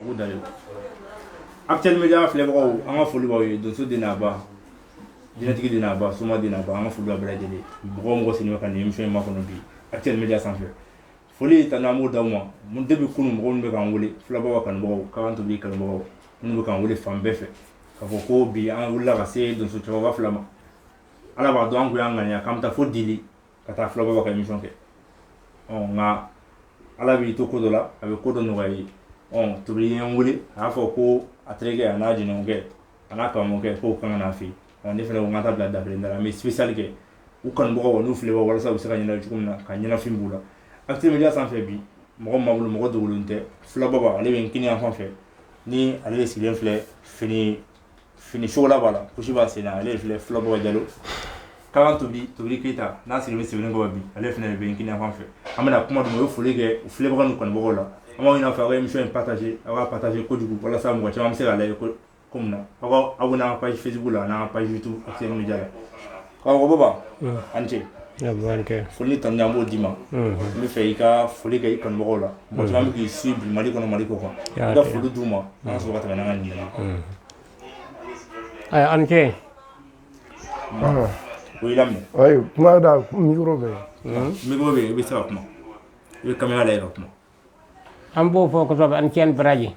ugu dalen Actuel Media filɛbagaw an ka foli b'aw ye donso den n'a ba jinɛtigi den n'a ba soma den n'a ba an ka foli b'a bɛɛ lajɛlen mɔgɔ o mɔgɔ sigilen bɛ ka nin émission in makɔnɔ bi Actuel Media sanfɛ foli tanu an b'o d'aw ma mun depuis kunu mɔgɔ minnu bɛ k'an wele filɛbagaw kanubagaw k'an tobi kanubagaw minnu bɛ k'an wele fan bɛɛ fɛ k'a fɔ ko bi an wulila ka se donso cɛkɔrɔba fila ma ala b'a dɔn an kun y'an ŋaniya k'an bɛ taa fo dili ka taa filaba ka émission kɛ ɔ nka ala b'i to ko dɔ la a bɛ ko dɔ nɔgɔya i ye ɔ tobili ye n wele a y'a fɔ ko a terikɛ a n'a jɛɲɔgɔnkɛ a n'a karamɔgɔkɛ k'o kan ka na a fɛ yen ne fana ko n ka taa bila dabiri da la n bɛ spécial kɛ u kanubagaw n'u filɛ walasa u bɛ se ka ɲɛnajɛ cogo min na ka ɲɛnafin b'u la Actuel Media sanfɛ bi mɔgɔ ma bolo mɔgɔ dogolen tɛ filababa ale bɛ n kini yan fan fɛ ni ale de sigilen filɛ fini fini chocolat b'a la kusi b'a sen na ale filɛ filababa jalo kalan tobili tobili keyita n'a sigilen bɛ sɛbɛninkɔrɔ bi ale fana bɛ kini fan fɛ an bɛna kuma d'u ma u ye foli kɛ u filɛbaga ni kanubagaw la an b'a ɲini aw fɛ aw ka émission in partager aw ka partager kojugu walasa mɔgɔ caman bɛ se k'a lajɛ cogo min na aw ka abonné an ka page facebook la a n'an ka page youtube Actuel Media la Baba an ce foli tanu an b'o d'i ma n b'a fɛ i ka foli kɛ i kanumɔgɔ la bɛ k'i suivre mali kɔnɔ mali kɔ kan i ka foli d'u ma n sɔrɔ ka ɲɛ an kɛ o jira micro bɛ i bɛ se ka kuma i bɛ caméra lajɛ kuma an b'aw fo kosɛbɛ a ni ce a ni baraji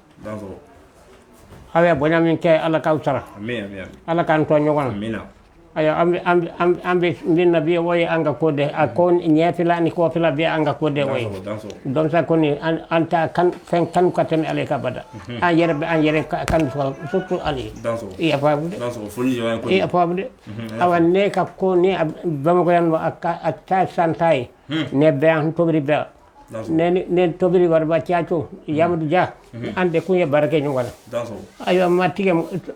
ayiwa bonya min kɛ ala k'aw sara ala k'an to ɲɔgɔn na ayiwa an bɛ min na bi o ye an ka ko dɛ a kɔni ɲɛfɛla ni kɔfɛla bɛɛ ye an ka ko dɛ o ye donsoya kɔni an tɛ ka fɛn kanu ka tɛmɛ ale kan abada an yɛrɛ bɛ an yɛrɛ kanu surtout ale i y'a faamu dɛ ayiwa ne ka ko ni bamakɔ yan a taa san tan ye ne bɛ an tobili bɛɛ ne ni ne ni tobiri waraba caco yamadu dia an de kun ye baara kɛ ɲɔgɔn na ayiwa n ma tigɛ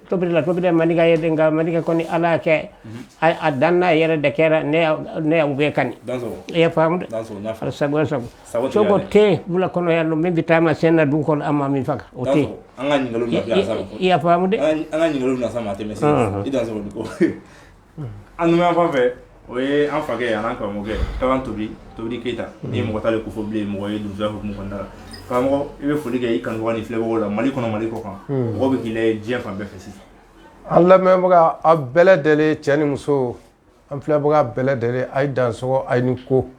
tobiri la tobiri manika ye nka manika kɔni ala kɛ a dan n'a yɛrɛ de kɛra ne y'u bɛɛ kanu i y'a faamu dɛ sago sago sogo tɛ wula kɔnɔ yan nɔ min bɛ taama sen na dugukolo an ma min faga o tɛ i y'a faamu dɛ an ka ɲininkaliw na sa ma tɛmɛ i dan sɔrɔ ko an numan fan fɛ o ye an fakɛ an karamɔgɔkɛ kalan tobi tobili keyita ni mɔgɔ t'ale ko fɔ bilen mɔgɔ ye donso hukumu kɔnɔna la karamɔgɔ i bɛ foli kɛ i kanubagaw n'i filɛbagaw la mali kɔnɔ mali kɔ kan mɔgɔ bɛ k'i lajɛ fan bɛɛ fɛ sisan an lamɛnbaga a bɛɛ lajɛlen cɛ ni muso an filɛbaga bɛɛ lajɛlen a ye danso a ni ko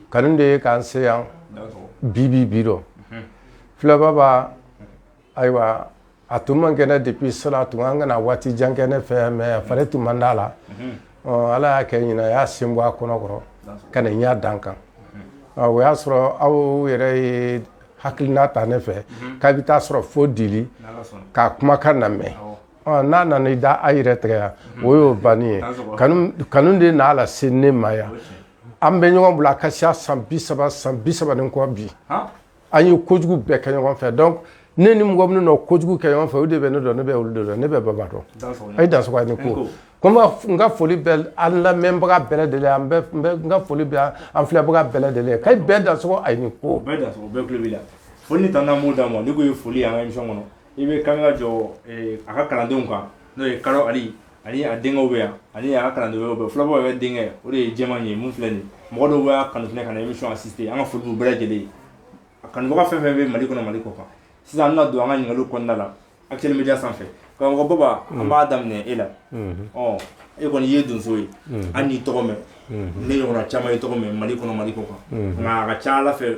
kanu de ye k'an se yan bibi bi don filababa ayiwa A tun man kɛnɛ depuis cela tun an kana waati jan kɛ ne fɛ mais a fari tun man d'a la ala y'a kɛ ɲinan a y'a sen bɔ a kɔnɔkɔrɔ ka na n y'a dan kan o y'a sɔrɔ aw yɛrɛ ye hakilina ta ne fɛ k'a bɛ taa sɔrɔ fo deli k'a kumakan lamɛn n'a nana i da a yɛrɛ tigɛ yan o y'o ban ye kanu de n'a lase ne ma yan an bɛ ɲɔgɔn bolo a ka siya san bi saba san bi saba kɔ bi an ye kojugu bɛɛ kɛ ɲɔgɔn fɛ donc ne ni mɔgɔ minnu nɔ kojugu kɛ ɲɔgɔn fɛ o de bɛ ne dɔn ne bɛ olu de dɔn ne bɛ baba dɔn a ye dansogo a ni ko ko n ka foli bɛ an lamɛnbaga bɛɛ lajɛlen n ka foli bɛ an filɛbaga bɛɛ lajɛlen ka bɛɛ dansogo a ni ko foli tan n'mu d'a ma n ko ye foli an ka émission kɔnɔ i bɛ kamera jɔ a ka kalandenw kan n'o ye kalo ali ani a denkɛw bɛ yan ani a ka kalanden wɛrɛw bɛ fula baba yɛrɛ denkɛ o de ye jɛman ye mun filɛ nin mɔgɔ dɔw b'a kanu fɛnɛ ka na émission assister an ka foli b'u bɛɛ lajɛlen a kanubaga fɛn fɛn bɛ mali kɔnɔ mali kɔkan sisan an bɛna don an ka ɲininkaliw kɔnɔna la actuel media sanfɛ karamɔgɔ baba an b'a daminɛ e la ɔ e kɔni ye donso ye an n'i tɔgɔ mɛn ne ɲɔgɔnna caman y'i tɔgɔ mɛn mali kɔnɔ mali kɔkan nka a ka ca ala fɛ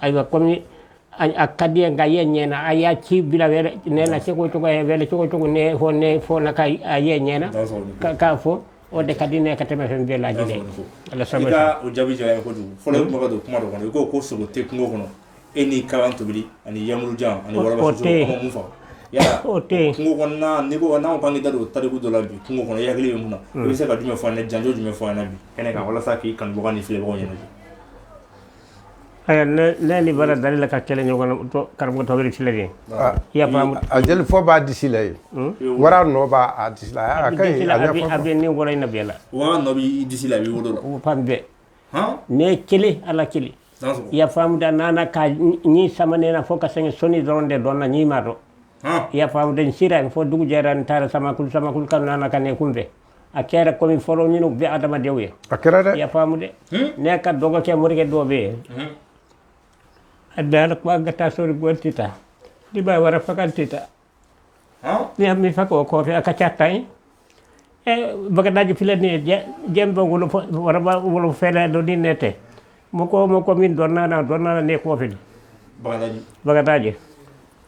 ayiwa kɔmi a ka di nka ye ɲɛ na a y'a ci bila ne na se ko tɔgɔ wɛrɛ cogo cogo ne fɔ ne fɔ na ka a ye ɲɛ na k'a fɔ o de ka di ne ka tɛmɛ fɛn bɛɛ lajɛ lajɛlen ala sabu o jaabi diyara ko don fɔlɔ tun ka don kuma dɔ kɔnɔ i ko ko sogo tɛ kungo kɔnɔ e ni karamɔgɔ tobili ani yamu jan ani wɔɔrɔ fɔ o tɛ kungo kɔnɔ ni ko n'aw bange da don tariku dɔ la bi kungo kɔnɔ ya ye mun na i bɛ se ka jumɛn fɔ ne janjo jumɛn fɔ na bi kɛnɛ kan walasa k'i kanubaga ni filɛbaga ɲɛna ayiwa ne ni wara dalila ka kɛlɛ ɲɔgɔn karamɔgɔ tobili filɛ de i y'a faamu a jelifɔn b'a disi la ye wara nɔ b'a a disi la a ka ɲi a bɛ a bɛ ne woro in na bɛɛ la wara nɔ b'i disi la i b'i wolo la o fan bɛɛ ne kelen ala kelen i y'a faamu dɛ a nana ka ni sama ne na fo ka sɛgɛn sɔnin dɔrɔn de donna ɲin ma don i y'a faamu dɛ an sira fo dugu jɛra n taara samakulu samakulu ka nana ka ne kunbɛn a kɛra komi fɔlɔ ninnu bɛɛ adamadenw ye a kɛra dɛ i y'a faamu dɛ ne ka dɔgɔ kɛ morikɛ dɔ bɛ yen a dara kuma ka taa sori gɔli tɛ taa ne b'a wara fagali tɛ taa ne ye min fag'o kɔfɛ a ka ca tan ye bagadaji filɛ nin ye jenbe wolo waraba wolo fɛlɛ dɔɔnin ne tɛ mɔgɔ o mɔgɔ min dɔnna na dɔnna na ne kɔfɛ bagadaji bagadaji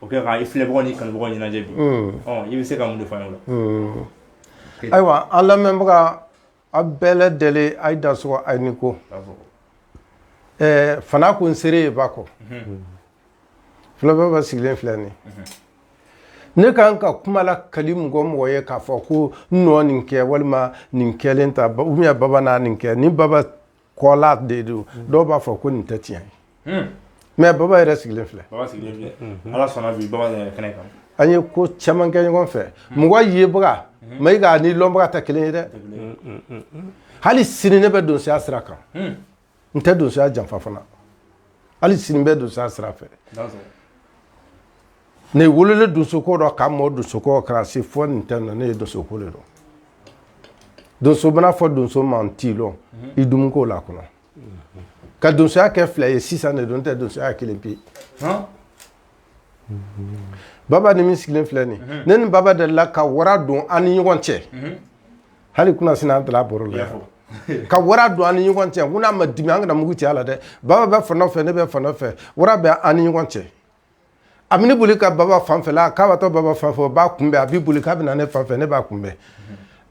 o kɛ ka i filɛbagaw ni kanubagaw ɲɛnajɛ bi i bɛ se ka mun de fɔ an ye ayiwa an lamɛnbaga a bɛɛ lajɛlen a ye dansɔgɔ a ni ko fana ko n seere ye ba kɔ fula baba sigilen filɛ nin ne ka kan ka kuma lakali mɔgɔ mɔgɔ ye k'a fɔ ko n nɔ nin kɛ walima nin kɛlen ta baba n'a nin kɛ ni baba ko la de don dɔw b'a fɔ ko nin tɛ tiɲɛ ye mɛ baba yɛrɛ sigilen filɛ an ye ko caman kɛ ɲɔgɔn fɛ mɔgɔ yebaga Mayiga ni lɔnbaga tɛ kelen ye dɛ hali sini ne bɛ donsoya sira kan n tɛ donsoya janfa fana hali sini ne bɛ donsoya sira fɛ ne wololen donsoko dɔ ka mɔ donsoko kɛra se fɔ nin tɛ na ne ye donsoko le dɔ donso bɛna a fɔ donso ma n t'i lɔn mhm. i dumunko la kɔnɔ ka donsoya kɛ fila ye sisan ne dun tɛ donsoya kelen pe Baba ni min sigilen filɛ nin ne ni baba delila ka wara don an ni ɲɔgɔn cɛ hali kunasinin an taara baro la ka wara don an ni ɲɔgɔn cɛ ko n'a ma dimi an kana mugu ci a la dɛ baba bɛ fan dɔ fɛ ne bɛ fan dɔ fɛ wara bɛ an ni ɲɔgɔn cɛ a man'i boli ka baba fanfɛla k'a watɔ baba fan fɛ b'a kunbɛn a b'i boli k'a bɛ na ne fan fɛ ne b'a kunbɛn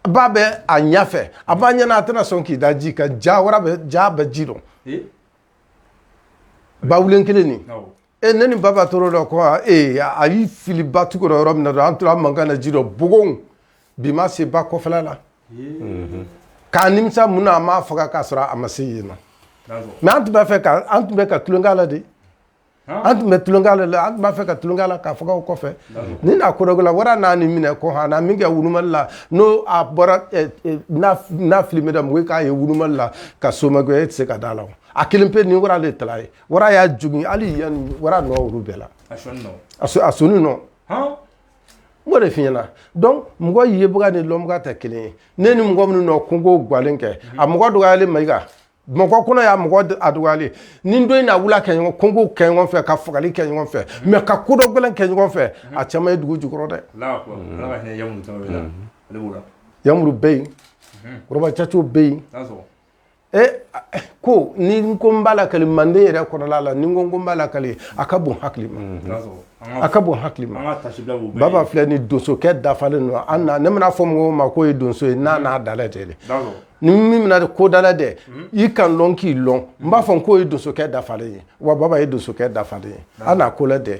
ba bɛ a ɲɛfɛ a b'an ɲɛna a tɛna sɔn k'i da ji kan jaa wara bɛ ja ba ji dɔ Bawulen kelen nin e ne ni baba tora o dɔ ko ee a y'i fili ba tugu dɔ yɔrɔ min na dɔrɔn an tora mankan na ji dɔ bogon bi ma se ba kɔfɛla la ka nimisa mun na a m'a faga k'a sɔrɔ a ma se yen na mɛ an tun b'a fɛ ka an tun bɛ ka tulonkɛ la de an tun bɛ tulonkɛ la de an tun b'a fɛ ka tulonkɛ la k'a faga o kɔfɛ ni n'a kodɔgɔla wara n'a ni minɛ ko han n'a min kɛ ŋunumali la n'o a bɔra n'a filimu da mɔgɔ k'a ye ŋunumali la ka somakɛ e tɛ se ka d'a la a kelen pe ni wara de tala ye Wara y'a jogin hali yan wara nɔ olu b'a la a sɔnin nɔ a sɔ a sɔnin nɔ han n b'o de f'i ɲɛna donc mɔgɔ yebaga ni lɔnbaga tɛ kelen ye ne ni mɔgɔ minnu nɔ kungo gwɛlɛn kɛ a mɔgɔ dɔgɔyalen Mayiga Bamakɔ kɔnɔ yan mɔgɔ d a dɔgɔyalen nin don in na a wula kɛ ɲɔgɔn kungo kɛ ɲɔgɔn fɛ ka fagali kɛ ɲɔgɔn fɛ mais ka ko dɔ gɛlɛn kɛ ɲɔgɔn fɛ a caman ye dugu jukɔrɔ dɛ Alahu akibaru Ala ka hinɛ Yamuru Tarawele la ale b'o la Yamuru bɛ yen Woroba Caco bɛ yen n'a sɔgɔ e ko ni n ko n b'a lakali Manden yɛrɛ kɔnɔna la ni n ko n ko n b'a lakali a ka bon hakili ma a ka bon hakili ma baba filɛ ni donsokɛ dafalen don an na ne mana a fɔ mɔgɔw ma k'o ye donso ye n'a n'a dalɛ tɛ dɛ ni min mina ko dalɛ dɛ i ka n lɔn k'i lɔn n b'a fɔ k'o ye donsokɛ dafalen ye wa baba ye donsokɛ dafalen ye an n'a ko la dɛ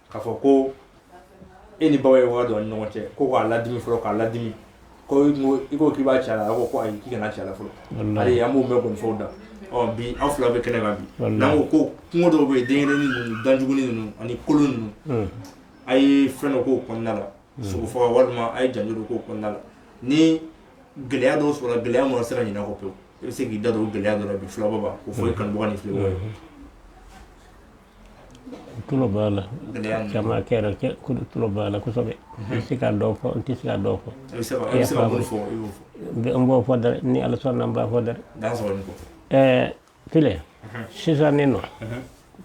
k'a fɔ ko e ni baba ye wara don ni ɲɔgɔn cɛ ko k'a ladimi fɔlɔ k'a ladimi ko i ko k'i b'a ci a la a ko ko ayi k'i kana ci a la fɔlɔ hali an b'o mɛn nkɔnifɔw da ɔ bi aw fila bɛ kɛnɛ kan bi n'an ko ko kungo dɔw bɛ yen dankelennin ninnu danjuguni ninnu ani kolon ninnu hmm. a ye fɛn dɔ k'o kɔnɔna la hmm. sogo faga walima a ye janjo dɔ k'o kɔnɔna la ni gɛlɛya dɔw sɔrɔla gɛlɛya min ma se ka ɲinɛ kɔ pewu i bɛ se k'i da don o gɛlɛya dɔ la bi filababa k'o fɔ i hmm. kanubaga ni filɛbagaw ye tulo b'a la caman kɛra cɛ ko tulo b'a la kosɛbɛ n tɛ se ka dɔw fɔ n tɛ se ka dɔw fɔ n b'o fɔ dɛ ni ala sɔnna n b'a fɔ dɛ ɛɛ filɛ sisan ne nɔ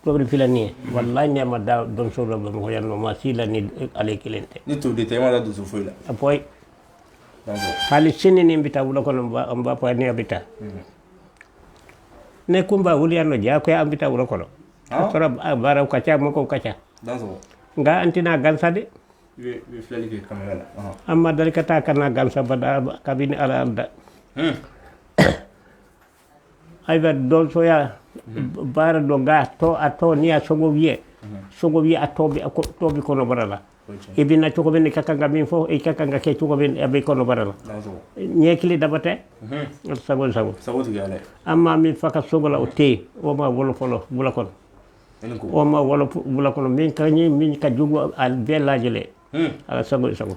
tobili filɛ nin ye walayi ne ma da donso la bamakɔ yan nɔ maa si la ni ale kelen tɛ ni tobili tɛ e ma da donso foyi la a poyi hali sini ni n bɛ taa wula kɔnɔ n b'a fɔ ne bɛ taa ne kumba wuliyanno jaa koye ambita wuro kono ah. sora baraw kaca moko kaca nga antina gansa de ah. amma dari kata kana gansa bada kabini ala alda hmm. aywa don soya hmm. bara do ga to a to ni a songo wiye hmm. songo wiye a tobi a tobi kono barala i bɛ na cogo min i ka kan ka min fɔ i ka kan ka kɛ cogo min a bɛ kɔnɔbara la ɲɛ kili daba tɛ sago i sago an maa min faga sogo la o tɛ yen o ma wolo fɔlɔ wula kɔnɔ o ma wolo wula kɔnɔ min ka ɲi min ka jugu a bɛɛ lajɛlen ala sago i sago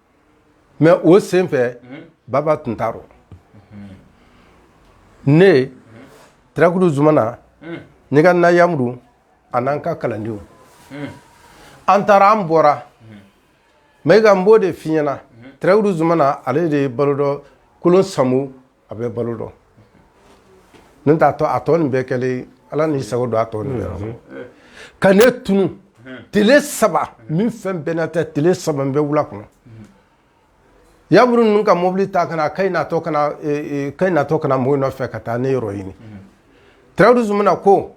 mɛ o sen fɛ baba tun t'a rɔ ne tarakulu zumana ne ka na yamudu ani an ka kalandenw an taara an bɔra mɛ ka n b'o de f'i ɲɛna tarakulu zumana ale de ye balo dɔ kolon samu A bɛ balo dɔ n t'a to a tɔ nin bɛɛ kɛlen ala n'i sago don a tɔ nin bɛɛ ka ne tunu tile saba min fɛn bɛnna tɛ tile saba n bɛ wula kɔnɔ yamuru ninnu ka mɔbili ta ka na ka natɔ ka natɔ ka na mɔgɔw nɔfɛ ka taa ne yɔrɔ ɲini tarakulu zumana ko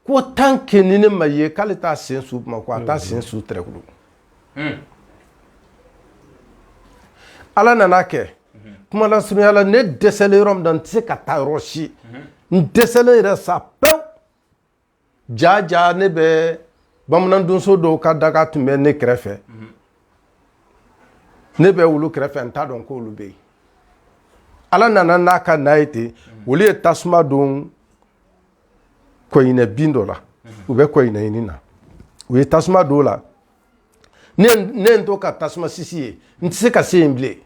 ko tant que ni ne ma ye k'ale t'a sen su bamakɔ a t'a sen su tarakulu hmm. ala nana a kɛ kuma lasurunya la ne dɛsɛlen yɔrɔ min na n tɛ se ka taa yɔrɔ si n dɛsɛlen yɛrɛ sa pewu jaja ne bɛ bamanan donso dɔw ka daga tun bɛ ne kɛrɛfɛ ne bɛ olu kɛrɛfɛ n t'a dɔn ko olu bɛ yen ala nana n'a ka n'a ye ten olu ye tasuma don kɔɲinɛ bin dɔ la u bɛ kɔɲinɛ ɲini na u ye tasuma don o la ne ye n to ka tasuma sisi ye n tɛ se ka se yen bilen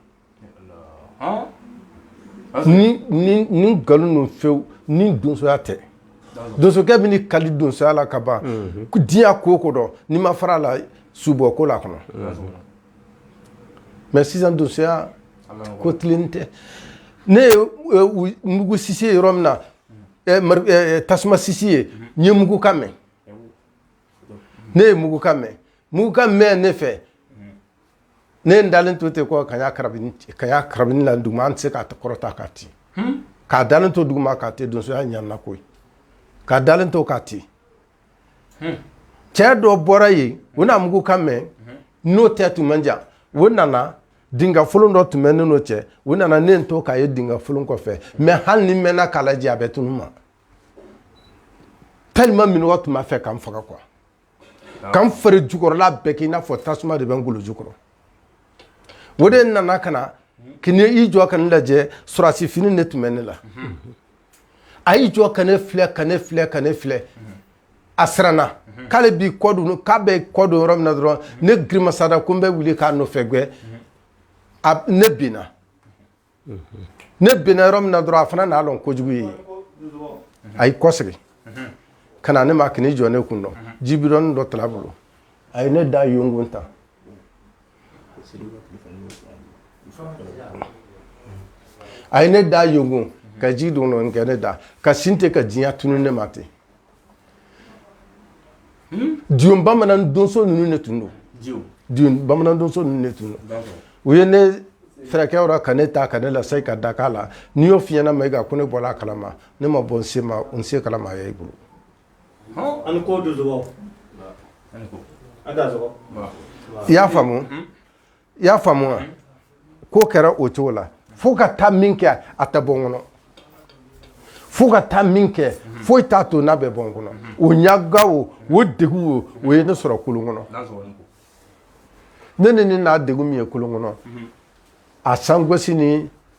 ni ni ni nkalon don fewu ni donsoya tɛ donsokɛ bɛ ni kali donsoya la ka ban diɲɛ ko o ko dɔn n'i ma fara a la subɔ ko la kɔnɔ mɛ sisan donsoya ko tilen tɛ ne ye mugu sisi ye yɔrɔ min na tasuma sisi ye n ye mugukan mɛn ne ye mugukan mɛn mugukan mɛn ne fɛ ne ye n dalen to ten ko ka karabini la duguma n tɛ se k'a kɔrɔta k'a ti k'a dalen to duguma k'a ti donsoya ɲana koyi k'a dalen to k'a ti cɛ dɔ bɔra yen u n'a mugukan mɛn n'o tɛ tun man jan o nana Dinga folon dɔ tun bɛ ne n'o cɛ o nana ne to k'a ye dinga folon kɔfɛ mɛ hali n'i mɛnna k'a lajɛ a bɛ tunun i ma tellement minnɔgɔ tun b'a fɛ k'an faga quoi k'an fari jukɔrɔla bɛɛ k'i n'a fɔ tasuma de bɛ n golo jukɔrɔ o de nana ka na k'i jɔ ka ne lajɛ sɔrɔdasi fini de tun bɛ ne la a y'i jɔ ka ne filɛ ka ne filɛ ka ne filɛ a siranna k'ale b'i kɔ don k'a bɛ kɔ don yɔrɔ min na dɔrɔn ne girimasada ko n bɛ wuli k'a nɔfɛ gɛn ne binna ne binna yɔrɔ min na dɔrɔn a fana n'a dɔn kojugu ye a y'i kɔsegin ka na ne ma ka n'i jɔ ne kun dɔ jibidɔni dɔ tala bolo a ye ne da yonkun ta a ye ne da yonkun ka ji dɔɔni dɔ kɛ ne da ka sin ten ka diɲɛ tunun ne ma ten bamanan donso ninnu de tun don bamanan donso ninnu de tun don u ye ne furakɛ o rɔ ka ne ta ka ne lasegin ka da a la n'i y'o f'i ɲɛna ma kan ko ne bɔra a kalama ne ma bɔ nin si kalama a ye i bolo i y'a faamu i y'a faamu wa k'o kɛra o cogo la fo ka taa min kɛ a tɛ bɔ n kɔnɔ fo ka taa min kɛ foyi t'a to n'a bɛ bɔ n kɔnɔ o ɲaga o o degun o o ye ne sɔrɔ kolon kɔnɔ ne ni ne n'a degun min ye kolon kɔnɔ a sangosi ni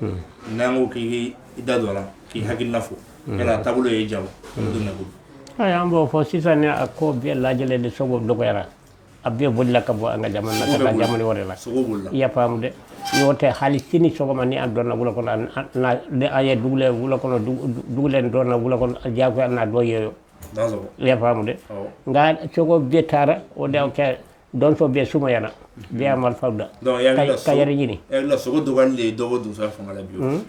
n'an ko k'i i da don a la k'i hakilina fɔ yala a taabolo ye ja wa an bɛ don min na ko bi Ayiwa an b'o fɔ sisan ni a ko bɛɛ lajɛlen de sogo dɔgɔyara a bɛɛ bolila ka bɔ an ka jamana na ka taa jamana wɛrɛ la sogo b'o la i y'a faamu dɛ n'o tɛ hali sini sɔgɔma ni an donna wula kɔnɔ an- an- na- ni an ye dugulen wula kɔnɔ dugu- du- dugulen nin donna wula kɔnɔ diyagoya an na dɔ ye o n'a sɔrɔ i y'a faamu dɛ awɔ nka sogo bɛɛ taara o de y'a kɛ donso bɛɛ sumayana mhm. bɛɛ y'a marifa da donc yala k'a yɛrɛ ɲini yala sogo dɔgɔyali de ye dɔ bɔ donsoya fanga la bi wa hmm?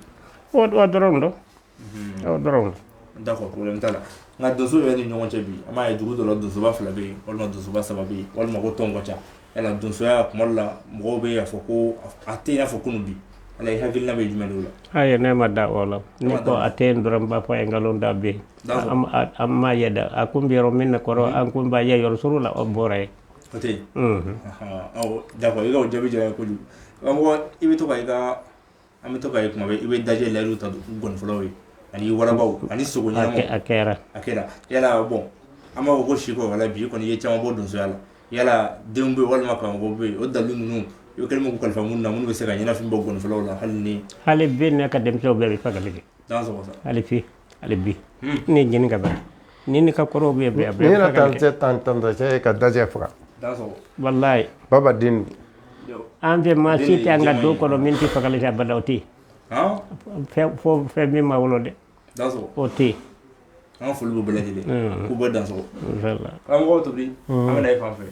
o o dɔrɔn don mhm. o dɔrɔn d'accord problème t'a la nka donso yɛrɛ ni ɲɔgɔn cɛ bi an b'a ye dugu dɔ la donsoba fila bɛ yen walima donsoba saba bɛ yen walima ko tɔn ka ca yala donsoya kuma dɔ la mɔgɔw bɛ y'a fɔ ko a tɛ i n'a fɔ kunun bi yala i hakilina bɛ jumɛn de o la ayi ne ma da o la n'i ko a tɛ yen dɔrɔn n b'a fɔ a ye nkalon don a bɛ yen m'a ye de an kun bɛ yɔrɔ min na kɔrɔ an kun b'a ye yɔrɔ surun na a bɔra yen o tɛ yen d'accord i ka jaabi diyara n ye kojugu i bɛ to i ka an bɛ to ka kuma i bɛ dajɛ layidu ta ngɔnifɔlaw ye ani warabaw ani sogo ɲɛnamaw a kɛra yala bon an b'a fɔ ko si wala bi kɔni ye caman bɔ donsoya la yala denw bɛ walima karamɔgɔw bɛ yen o dalilu ninnu i kɛlen kalifa minnu na minnu bɛ se ka ɲɛnafin bɔ ngɔnifɔlaw la hali hali bi ne ka denmisɛnw bɛɛ bɛ fagali hali bi ne ye jeni ka bara ni ne ka kɔrɔw bɛ bɛn ne yɛrɛ tan cɛ tan tan cɛ ka dajɛ faga walayi baba den an fɛ maa si tɛ an ka du kɔnɔ min tɛ fagali kɛ abada o tɛ yen fo fɛn min ma wolo dɛ o tɛ yen an ka foli b'u bɛɛ lajɛlen k'u bɛɛ dansɔgɔ karamɔgɔ tobi an bɛ na e fan fɛ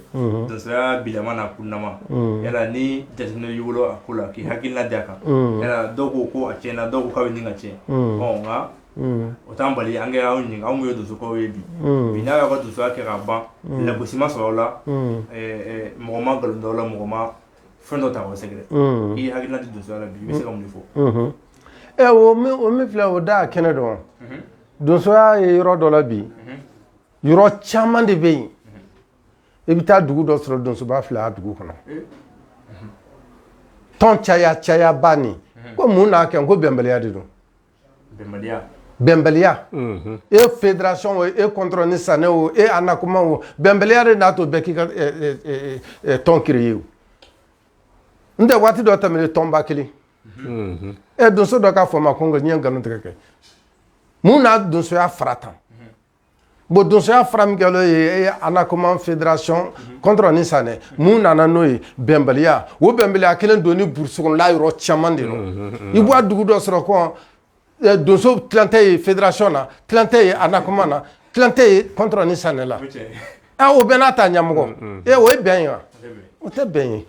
bilama n'a kununnama yala ni jateminɛ y'i bolo a ko la k'i hakilila di a kan dɔw ko ko a tiɲɛna dɔw k'a bɛ ɲini ka tiɲɛ nka o t'an bali an k'aw ɲininka aw ye donsokɛw ye bi bi n'aw y'aw ka donsoya kɛ ka ban lagosi ma sɔrɔ aw la mɔgɔ ma nkalon da aw la mɔgɔ ma fɛn dɔ ta k'aw sɛgɛrɛ i hakilila di donsoya la bi i bɛ se ka mun fɔ ɛ o min filɛ o da a kɛnɛ don donsoya ye yɔrɔ dɔ la bi yɔrɔ caman de bɛ yen i bɛ taa dugu dɔ sɔrɔ donsoba fila dugu kɔnɔ tɔn caya cayaba nin ko mun n'a kɛ ko bɛnbaliya de don bɛnbaliya e fédération o e kɔntrɔn ni sanɛ o e Anacoma o bɛnbaliya de n'a to bɛɛ k'i ka tɔn créer o n tɛ waati dɔ tɛmɛlen tɔnba kelen e donso dɔ k'a fɔ ma ko n ɲɛ nkalon tigɛ kɛ mun n'a donsoya fara tan Bon donsoya fara min kɛlen ye Anacoma fédération kɔntrɔn ni sanɛ mun nana n'o ye bɛnbaliya o bɛnbaliya kelen don ni burusi kɔnɔla yɔrɔ caman de don i b'a dugu dɔ sɔrɔ ko donso tilancɛ ye fédération na tilancɛ ye Anacoma na tilancɛ ye kɔntrɔn ni sanɛ la O bɛɛ n'a ta ɲɛmɔgɔ ee o ye bɛn ye wa o tɛ bɛn ye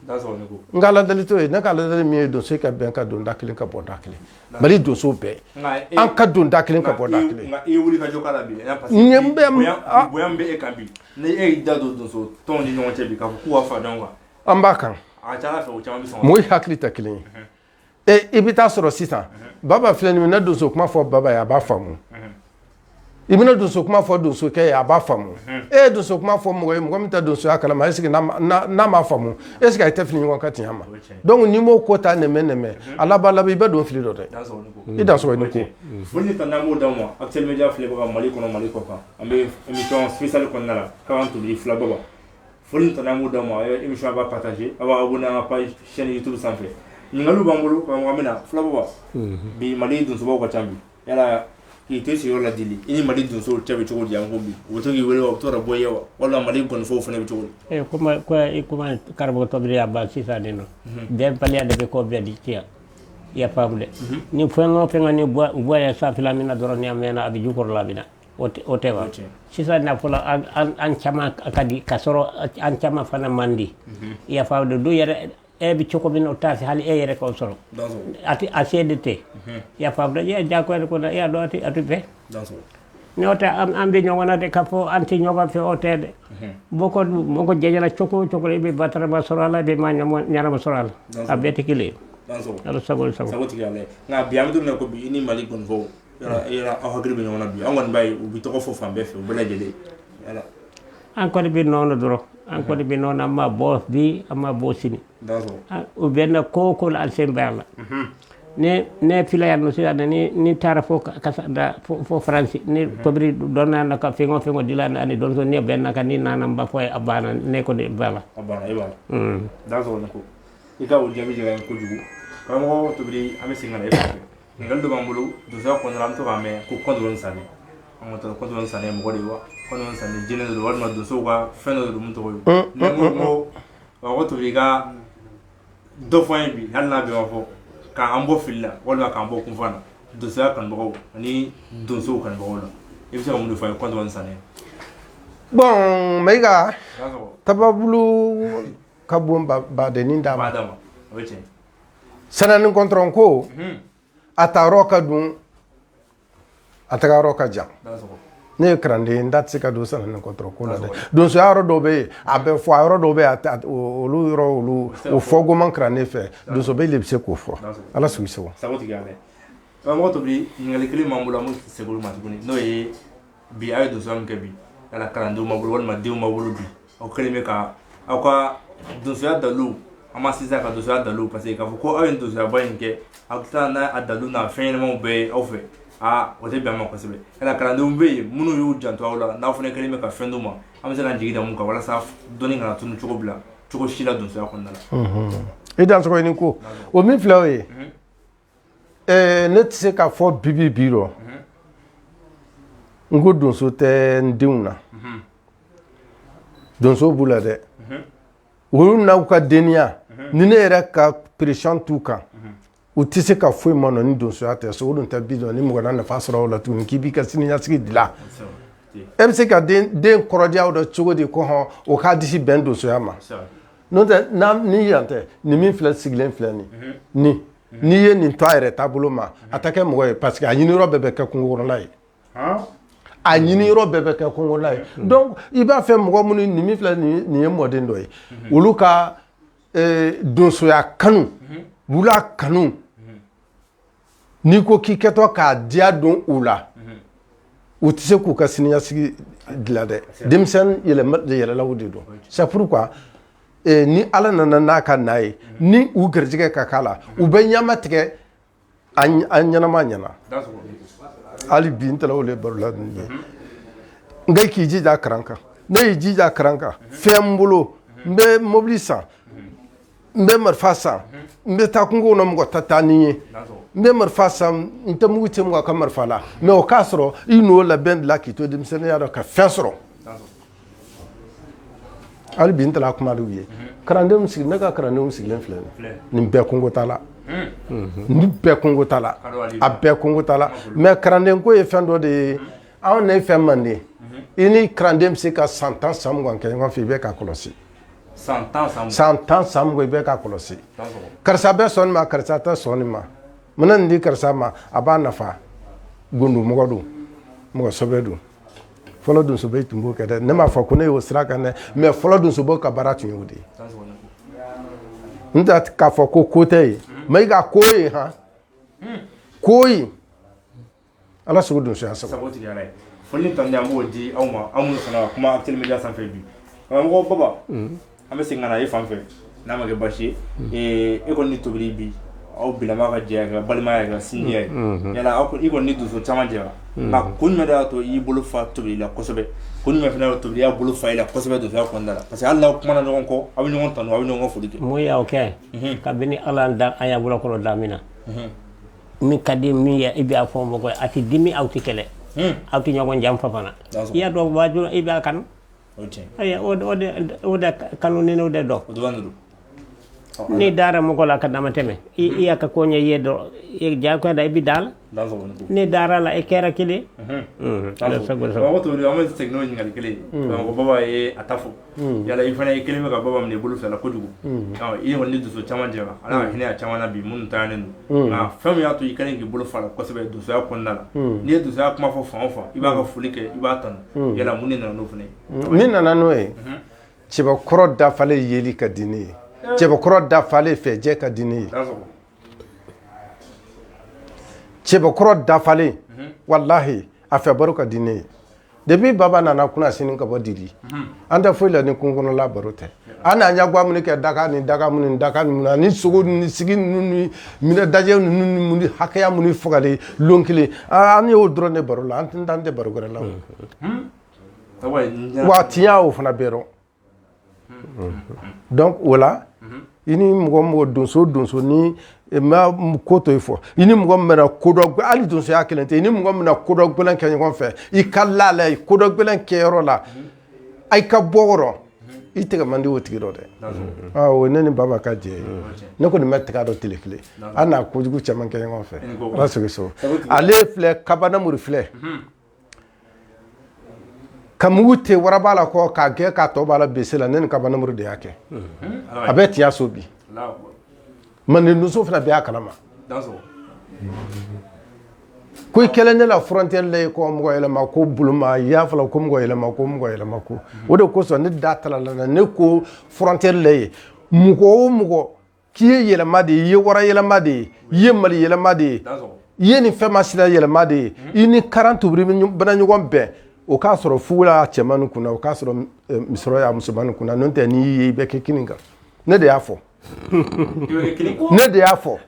n ka aladeli t'o ye ne ka aladeli min ye donso ka bɛn ka don da kelen ka bɔ da kelen mali donso bɛɛ an ka don da kelen ka bɔ da kelen an b'a kan mɔgɔw hakili tɛ kelen ye i bɛ taa sɔrɔ sisan baba filɛ nin i bɛna donso kuma fɔ baba ye a b'a faamu i bɛna donso kuma fɔ donsokɛ ye a b'a faamu e ye donso kuma fɔ mɔgɔ ye mɔgɔ min tɛ donsoya kalama est-ce que n'a m'a faamu est-ce que a tɛ fili ɲɔgɔn ka tiɲɛ ma donc n b'o ko ta nɛmɛ nɛmɛ a laban laban i bɛ don fili dɔ dɛ i dansɔgɔ ni ko mali kɔnɔ mali kɔkan an bɛ émission spéciale kɔnɔna la' tun filababa foli ni tanu an b'o d'aw ma émission aw b'a partager aw b'a abonné an ka page chaîne YouTube sanfɛ ɲininkaliw b'an bolo karamɔgɔ an bɛ na filababa bi mali donsobaw ka ca bi yala k'i to sigiyɔrɔ la dili i ni mali donsow cɛ bɛ cogo di an ko bi u bɛ to k'i wele wa u bɛ to ka bɔ i ye wa walima mali ngɔnifɔw fana bɛ cogo di eh, kuma ko i kuma karamɔgɔ tɔbiri y'a ban sisan de nɔ bɛnbaliya de bɛ ko bɛɛ de tiɲɛ i y'a faamu dɛ ni fɛn o fɛn ka ni bɔ ya sanfɛla min na dɔrɔn ni a mɛnna a bɛ jukɔrɔla bɛ na O tɛ o tɛ wa o tɛ sisan na fɔlɔ an an an caman ka di ka sɔrɔ an caman fana man di i y'a faamu dɛ du yɛrɛ e bɛ cogo min na o t'a se hali e yɛrɛ ka o sɔrɔ dansɔgɔ a tɛ a se de tɛ i y'a faamu dɛ i y'a diyagoya de ko la i y'a dɔn a tɛ a tɛ bɛn dansɔgɔ n'o tɛ an an bɛ ɲɔgɔn na de k'a fɔ an tɛ ɲɔgɔn fɛ o tɛ dɛ mɔgɔ dun mɔgɔ jɛra cogo o cogo la i bɛ batarama sɔrɔ a la i bɛ maa ɲɛnama ɲɛnama sɔrɔ a la a bɛɛ tɛ kelen ye dansɔgɔ ala sago i sago sagotigi ala nka bi an bɛ don min na ko bi i ni mali gɔnifɔw aw hakili bɛ ɲɔgɔn na bi an kɔni b'a ye u bɛ tɔgɔ fɔ fan bɛɛ fɛ u bɛɛ lajɛlen an kɔni bɛ ɲɔgɔn na dɔrɔn an kɔni bɛ ɲɔgɔn na an ma bɔ bi an ma bɔ sini u bɛ na ko o ko la an sen b'a la ne filɛ yan nɔ sisan ni taara fo fo faransi ni tobiri dɔn nana ka fɛn o fɛn dilan ani donso ne bɛ na ka ni nana n b'a fɔ a banna ne kɔni b'a la i ka jaabi diyara n ye kojugu karamɔgɔ tobiri an bɛ segin ɲininkali dɔ b'an bolo donsoya kɔnɔna an bɛ to k'a mɛn ko kɔntɔrɔn ni sanni an ka taa kɔntɔrɔn ni sanni mɔgɔ de ye wa kɔntɔrɔn ni sanni jinɛ de don walima donsow ka fɛn dɔ de don mun tɔgɔ ye mm, ne ko karamɔgɔ tobiri i ka dɔ fɔ an ye bi hali n'a bɛɛ ma fɔ k'an bɔ fili la walima k'an bɔ kunfan na donsoya kanubagaw ani donsow kanubagaw la i bɛ se ka mun de fɔ an ye kɔntɔrɔn ni sanni bon mayiga tababulu ka bon badennin da ma o ye tiɲɛ sanɛ ni kɔntɔrɔn ko a taayɔrɔ ka dun a tagayɔrɔ ka jan ne ye kalanden n da tɛ se ka don sanɛ ni kɔntɔrɔn ko la dɛ donsoya yɔrɔ dɔw bɛ yen a bɛ fɔ a yɔrɔ dɔw bɛ yen a tɛ- o- olu yɔrɔ olu o fɔ goman kalanden fɛ donsoba de bɛ se k'o fɔ ala sago i sago sagotigi ala karamɔgɔ tobiri ɲininkali kelen b'an bolo an bɛ segin olu ma tuguni n'o ye bi a ye donsoya min kɛ bi yala kalandenw b'a bolo walima denw b'a bolo bi aw kɛlen bɛ ka aw ka donsoya dalilu an ma sisan ka donsoya dalilu parce que k'a fɔ ko aw ye donsoyaba in kɛ aw bɛ taa n'a a dalilu n'a fɛn ɲɛnamaw bɛɛ ye aw fɛ aa o tɛ bɛn a ma kosɛbɛ yala kalandenw bɛ yen minnu y'u janto aw la n'aw fana kɛlen bɛ ka fɛn d'u ma an bɛ se ka jigi da mun kan walasa dɔnni kana tunu cogo bila cogo si la donsoya kɔnɔna la i dansɔgɔ i ni ko o min filɛ o ye ne tɛ se k'a fɔ bibi bi rɔ n ko donso tɛ n denw na donso b'u la dɛ olu n'aw ka denya ni ne yɛrɛ ka pression t'u kan u tɛ se ka foyi ma nɔ ni donsoya tɛ so o dun tɛ bi dɔn ni mɔgɔ na nafa sɔrɔ o la tuguni k'i b'i ka siniɲasigi dilan e bɛ se ka den kɔrɔdiyaw dɔ cogo di ko hɔn o k'a disi bɛn donsoya ma N'o tɛ n' ni yan tɛ nin min filɛ sigilen filɛ nin ni n'i ye nin to a yɛrɛ taabolo ma a ta kɛ mɔgɔ ye parce que a ɲiniyɔrɔ bɛɛ bɛ kɛ kungokɔnɔla ye a ɲiniyɔrɔ bɛɛ bɛ kɛ kungokɔnɔla ye donc i b'a fɛ mɔgɔ minnu nin min filɛ nin ye mɔden dɔ ye olu ka donsoya kanu wula kanu n'i ko k'i kɛtɔ k'a diya don u la u tɛ se k'u ka siniɲɛsigi dilan dɛ denmisɛn yɛlɛlaw de don c'est pourquoi ni ala nana n'a ka n'a ye ni u garijɛgɛ ka k'a la u bɛ ɲama tigɛ an ɲɛnama ɲɛna hali bi n ta de baro la ye n k'i jija karan kan ne y'i jija karan kan fɛn n bolo n bɛ mɔbili san n bɛ marifa san n bɛ taa kungo kɔnɔ mɔgɔ tɛ taa ni ye n bɛ marifa san n tɛ mugu ci mɔgɔ ka marifa la mɛ o k'a sɔrɔ i n'o labɛn dilan k'i to denmisɛnninya dɔ ka fɛn sɔrɔ hali bi n taara kuma dɔw ye kalandenw sigi ne ka kalandenw sigilen filɛ nin bɛɛ kungo t'a la nin bɛɛ kungo t'a la a bɛɛ kungo t'a la mɛ kalanden ko ye fɛn dɔ de ye anw ne ye fɛn manden i ni kalanden bɛ se ka san tan san mugan kɛ ɲɔgɔn fɛ i bɛ k'a kɔlɔsi san tan san mugan i bɛ k'a kɔlɔsi karisa bɛ sɔn nin ma karisa tɛ sɔn nin ma mana nin di karisa ma a b'a nafa gundo mɔgɔ don mɔgɔsɛbɛ don fɔlɔ donsobaw tun b'o kɛ dɛ ne m'a fɔ ko ne y'o sira kan dɛ mɛ fɔlɔ donsobaw ka baara tun y'o de ye n tɛ k'a fɔ ko ko tɛ ye mɛ i ka ko ye han ko Ala sago donsoya sago foli tan b'o di aw ma anw fana kuma Actuel Media sanfɛ bi karamɔgɔ baba an bɛ segin ka na e fan fɛ n'a ma kɛ basi ye e kɔni ni tobili bi aw fila ka jɛ ka balimaya ka sinjiya yala aw i kɔni ni donso caman jɛra nka kun jumɛn y'a to i y'i bolo fa tobili la kosɛbɛ kun jumɛn tobili y'a bolo fa i la kosɛbɛ donsoya kɔnɔna la parce que hali n'aw kumana ɲɔgɔn kɔ aw bɛ ɲɔgɔn tanu aw bɛ ɲɔgɔn foli kɛ mun y'aw kɛ kabini ala da a y'a bolo kɔnɔ damin na min ka di min ye i b'a fɔ mɔgɔ ye a tɛ dimi aw tɛ kɛlɛ hmm. aw tɛ ɲɔgɔn janfa fana i y'a dɔn waajibi i b'a kanu o de kanu ni o de don n'i dara mɔgɔ la ka damatɛmɛ i hmm. y'a ka koɲɛ ye dɔrɔn jagoya da i bɛ da la n'i dara la i kɛra kelen hmm. an bɛ segin n'o ɲininkali kelen ye baba ye a ta fɔ Mm. yala i fana i kɛlen bɛ ka baba minɛ i bolo fila kojugu mm. i kɔni ni donso caman jɛra ala ka mm. hinɛ a caman na bi minnu taanen don nka fɛn min y'a to i kɛlen k'i bolo fa a la kosɛbɛ donsoya kɔnɔna la n'i ye donsoya kuma fɔ fan o fan i b'a ka foli kɛ i b'a tanu yala mun de nana n'o fana ye min nana n'o ye mhm. cɛbakɔrɔ dafalen yeli ka di ne ye eh. cɛbakɔrɔ dafalen fɛ jɛ ka di ne ye cɛbakɔrɔ dafalen walahi a fɛ baro ka di ne ye depuis baba nana kunasini ka bɔ didi an tɛ foyi la ni kungokɔnɔla baro tɛ an n'a ɲagwa minnu kɛ daga ni daga minnu ni daga ninnu na ni sogo ni sigi ninnu ni minɛ dajɛ ninnu ni mun ni hakɛya minnu fagalen lon kelen aa an y'o dɔrɔn de baro la an tɛ an tɛ baro wɛrɛ la o wa tiɲɛ o fana bɛ dɔn donc o la i ni mɔgɔ mɔgɔ donso donso ni eh, ma ko to i fɔ i ni mɔgɔ min bɛna ko dɔ hali donsoya kelen tɛ i ni mɔgɔ min bɛna ko dɔ gɛlɛn kɛ ɲɔgɔn fɛ i ka la la ye ko dɔ gɛlɛn kɛyɔrɔ la a ka bɔ kɔrɔ i tɛgɛ man di o tigi dɔ dɛ ah, o ne ni baba ka jɛ ye ne kɔni ma tɛgɛ a dɔ tile kelen an na kojugu caman kɛ ɲɔgɔn fɛ ala sigi so ale filɛ kabanamuru filɛ Ka mugu te waraba la kɔ k'a gɛn k'a tɔ b'a la bese la ne ni kabanamuru de y'a kɛ a bɛ tiɲɛso bi manden donso fana bɛɛ y'a kalama ko i kɛlen ne la frontière la ko mɔgɔ yɛlɛma ko boloma y'a fɔla ko mɔgɔ yɛlɛma ko mɔgɔ yɛlɛma ko o de kosɔn ne da talala na ne ko frontière la ye mɔgɔ o mɔgɔ k'i ye yɛlɛma de ye i ye wara yɛlɛma de ye i ye mali yɛlɛma de ye i ye nin fɛn masina yɛlɛma de ye i ni karan tubiri bɛna ɲɔgɔn bɛn o k'a sɔrɔ fugula y'a cɛman kunna o k'a sɔrɔ eh, misɔrɔ y'a musoman kunna n'o tɛ n'i ye i bɛ kɛ kini kan ne de y'a fɔ ne de y'a fɔ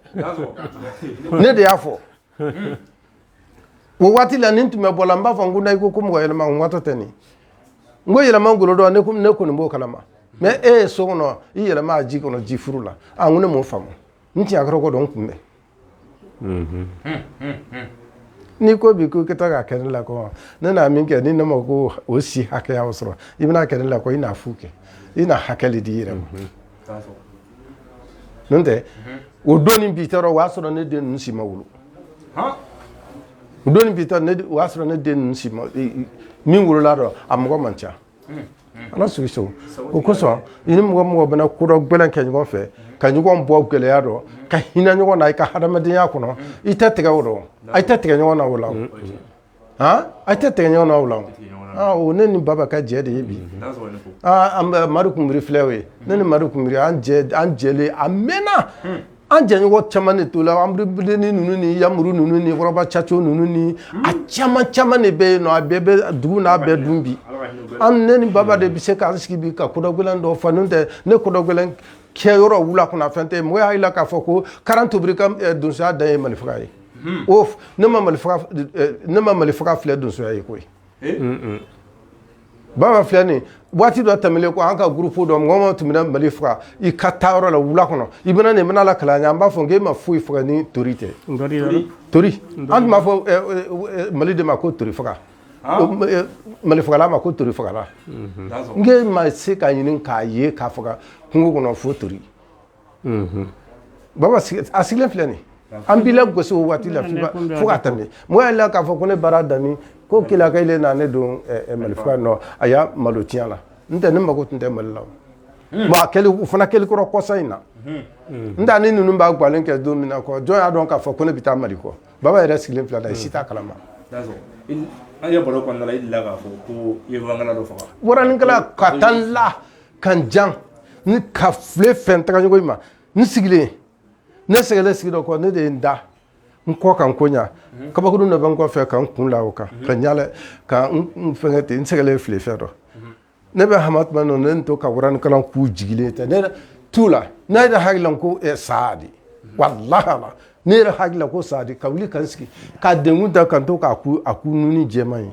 ne de y'a fɔ Hmm. o waati la ni n tun bɛ bɔla n b'a fɔ n ko na i ko ko mɔgɔ yɛlɛma n watɔ tɛ nin n ko yɛlɛma golo don ne ne kɔni b'o kalama mais e ye so kɔnɔ i yɛlɛma a ji kɔnɔ ji furu la a n ko ne m'o faamu n tiɲɛ a kɔrɔ ko dɔn n kunbɛn n'i ko bi ko i ka taa k'a kɛ ne la kɔ ne na min kɛ ni ne ma ko o si hakɛya sɔrɔ i bɛna kɛ ne la kɔ i na fu kɛ i na hakɛ de d'i yɛrɛ ma n'o tɛ o don ni bi tɛrɔ o y'a sɔrɔ ne den ninnu si ma wolo o don ni bi tɛrɔ o y'a sɔrɔ ne den min wolola dɔ a mɔgɔ man ca ala sigiso o kosɔn i ni mɔgɔ mɔgɔ bɛna ko dɔ gɛlɛn kɛ ɲɔgɔn fɛ ka ɲɔgɔn bɔ gɛlɛya dɔ ka hinɛ ɲɔgɔn na i ka hadamadenya kɔnɔ i tɛ tigɛ o dɔ a tɛ tigɛ ɲɔgɔn na o la a tɛ tigɛ ɲɔgɔn na o la ne ni baba ka jɛ de ye bi an bɛ mari kunbri filɛ o ye ne ni mari kunbri an jɛlen a mɛnna an jɛɲɔgɔn caman de tola an bilen ni ninnu ni yamuru ninnu ni kɔrɔba caco ninnu ni a caman caman de bɛ yen nɔn a bɛɛ bɛ dugu n'a bɛɛ dun bi an ne ni baba de bɛ se k'an sigi bi ka ko dɔ gɛlɛn dɔ fɔ n'o tɛ ne ko dɔ gɛlɛn kɛyɔrɔ wula kunna fɛn tɛ mɔgɔ y'a jira la k'a fɔ ko karan tobiri ka donsoya dan ye mali faga ye Hmm. O ne ma mali faga filɛ donsoya ye koyi eh? baba filɛ nin waati dɔ tɛmɛlen ko an ka groupe dɔ mɔgɔ mɔgɔ tun bɛna mali faga i ka taa yɔrɔ la wula kɔnɔ i bɛna nin bɛn'a lakali an b'a fɔ k' e ma foyi faga ni tori tɛ tori an tun b'a fɔ eh, eh, mali de ma ko tori faga ah. mali fagala ma ko tori fagala mhm. n ma se ka ɲini k'a ye k'a faga kungo kɔnɔ fo tori Baba a sigilen filɛ nin an b'i la gosi o waati la fo ka tɛmɛ mɔgɔ y'a la k'a fɔ ko ne baara dan ko ke ka na ne don mali nɔ a y'a malo ti la n tɛ ne mako tun tɛ mali la o fana kɛli kɔrɔ kɔsa in na n taa ni ninnu b'a galen kɛ don min na jɔn y'a dɔn k'a fɔ ko ne bɛ taa mali kɔ baba yɛrɛ sigilen filɛ la i si t'a kalama ka taa la ka n jan ni ka file fɛn tagaɲɔgɔn in ma n sigilen ne sɛgɛlen sigi dɔ kɔ ne de ye n da n kɔ ka n ko ɲa kabakurun dɔ bɛ n kɔfɛ ka n kun la o kan ka ɲalɛ ka n fɛngɛ ten n sɛgɛlen file fɛn dɔ ne bɛ hama tuma nɔ ne to ka waranikalan ku jigilen tɛ ne t'u la ne yɛrɛ hakili la ko eh, saa de walahi la ne yɛrɛ hakili la ko saa de ka wuli ka n sigi ka denkun ta ka n to k'a ku a ku nuni jɛman ye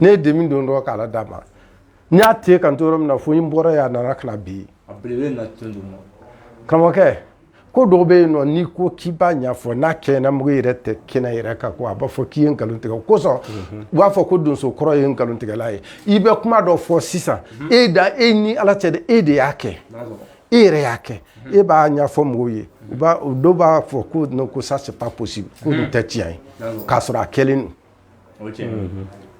ne ye demi don dɔrɔn k'a la d'a ma n y'a te kan to yɔrɔ min na fo n bɔra yan nana ka na bi karamɔgɔkɛ ko dɔw bɛ yen nɔ n'i ko k'i b'a ɲɛfɔ n'a kɛɲɛna mɔgɔ yɛrɛ tɛ kɛnɛ yɛrɛ kan ko a b'a fɔ k'i ye nkalon tigɛ o kosɔn mhm. u b'a fɔ ko donso kɔrɔ ye nkalon tigɛla ye i bɛ kuma dɔ fɔ sisan mhm. e da e ni ala cɛ dɛ e de y'a kɛ e yɛrɛ y'a kɛ e b'a ɲɛfɔ mɔgɔw ye u b'a dɔw b'a fɔ ko non ko ça c'est pas possible ko nin tɛ tiɲɛ ye k'a sɔrɔ a kɛlen don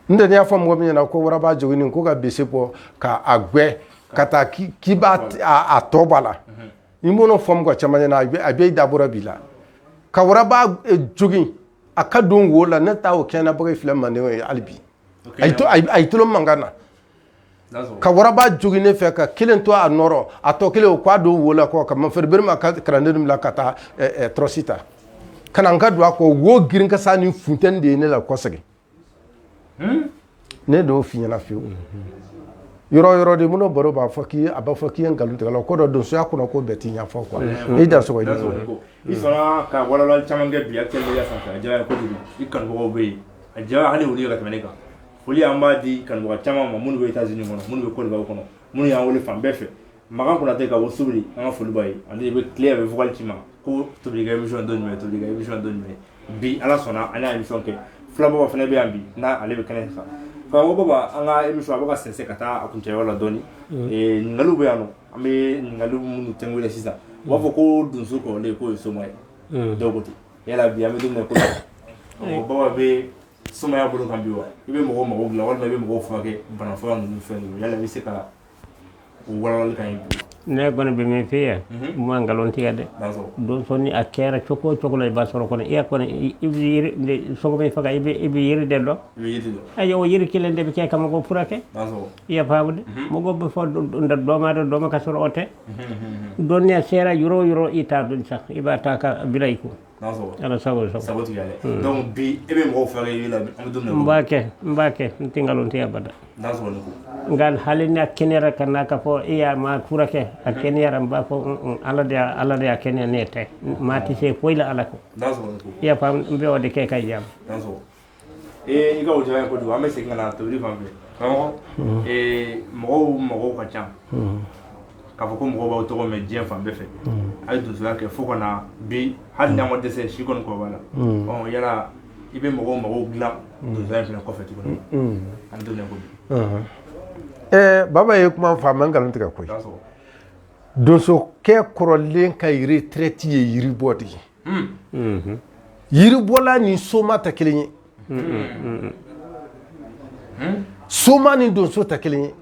n tɛ n'i y'a fɔ mɔgɔ min ɲɛna ko waraba joginnen ko ka bese bɔ ka a gwɛ ka taa k'i b'a a tɔ b'a la i b'o fɔ mɔgɔ caman ɲɛna a bɛ dabɔra b'i la ka waraba eh, jogin a ka don wo la ne taa o kɛnɛ bɔ filɛ manden ye hali bi a y'i tolo mankan na ka waraba jogin ne fɛ ka kelen to a nɔrɔ a tɔ kelen o k'a don wo la kɔ ka ma feereere ma ka kalandenw bila ka taa tɔrɔsi ta ka na n ka don a kɔ wo girin kasa ni funteni de ye ne lakɔsegin ne t'o f'i ɲɛna fiyewu yɔrɔ yɔrɔ de minnu baro b'a fɔ k'i a b'a fɔ k'i ye nkalon tigɛla ko dɔ donsoya kɔnɔ ko bɛɛ tɛ ɲɛfɔ quoi i dansɔgɔ i sɔnna ka walawalali caman kɛ bi actuel media sanfɛ a diyara kojugu i kanubagaw bɛ yen a diyara hali olu ye ka tɛmɛ ne kan foli an b'a di kanubaga caman ma minnu bɛ États-Unis kɔnɔ minnu bɛ Côte d'Ivoire kɔnɔ minnu y'an wele fan bɛɛ fɛ makan konate ka bɔ subiri an ka foli b'a ye ani bɛ tile bɛ vocal ci ma ko tobikɛ imisɔn don jumɛn tobikɛ imisɔn don jumɛn bi ala sɔnna an y'a imisɔn kɛ filababa fana bɛ yan bi n'a ale bɛ kɛnɛ kan karamɔgɔ baba an ka imisɔn a bɛ ka sɛnsɛn ka taa a kuncɛyɔrɔ la dɔɔni ɲininkaliw bɛ yan nɔ an bɛ ɲininkaliw minnu tɛngu sisan u b'a fɔ ko donso kɔrɔlen k'o ye soma ye dɔw ko ten yala bi an bɛ don min na ko baba bɛ somaya bolo kan bi wa i bɛ mɔgɔ mago dilan walima i bɛ mɔgɔw furakɛ bana fura ninnu fɛn ninnu yala i bɛ se ka o walawali k'an ye bi ne kɔni bɛ min f'i ye n ma nkalon tigɛ dɛ donso ni a kɛra cogo o cogo la i b'a sɔrɔ kɔni e kɔni i yɛrɛ sogo min faga i bɛ yiri de dɔn ayiwa o yiri kelen de bɛ kɛ ka mɔgɔ furakɛ i y'a faamu dɛ mɔgɔ bɛ fɔ dɔ ma dɔn dɔ ma ka sɔrɔ o tɛ dɔnniya sera yɔrɔ o yɔrɔ i t'a dɔn sa i b'a ta ka bila i kun bi e bɛ mɔgɔw furakɛ i la n b'a kɛ n b'a kɛ n tɛ nkalon tigɛ abada nka hali n'a kɛnɛyara ka na k'a fɔ e ye maa furakɛ a kɛnɛyara n b'a fɔ ala de ala de y'a kɛnɛya ne tɛ maa tɛ se foyi la ala kɔ i y'a faamu n bɛ o de kɛ ka yan ee i ka o diyara n ye kojugu an bɛ segin ka na tobili fan fɛ karamɔgɔ ee mɔgɔw mɔgɔw ka ca k'a fɔ ko mɔgɔw b'aw tɔgɔ mɛn diɲɛ fan bɛɛ fɛ a ye donsoya kɛ fo ka na bi hali n'an ma dɛsɛ si kɔni kɔrɔba la ɔ yala i bɛ mɔgɔw mago dilan donsoya in fana kɔfɛ tuguni an bɛ don ko bi ɛɛ baba ye kuma fɔ a man nkalon tigɛ koyi donsokɛ kɔrɔlen ka retraite ye yiribɔ de ye yiribɔla ni soma tɛ kelen ye soma ni donso tɛ kelen ye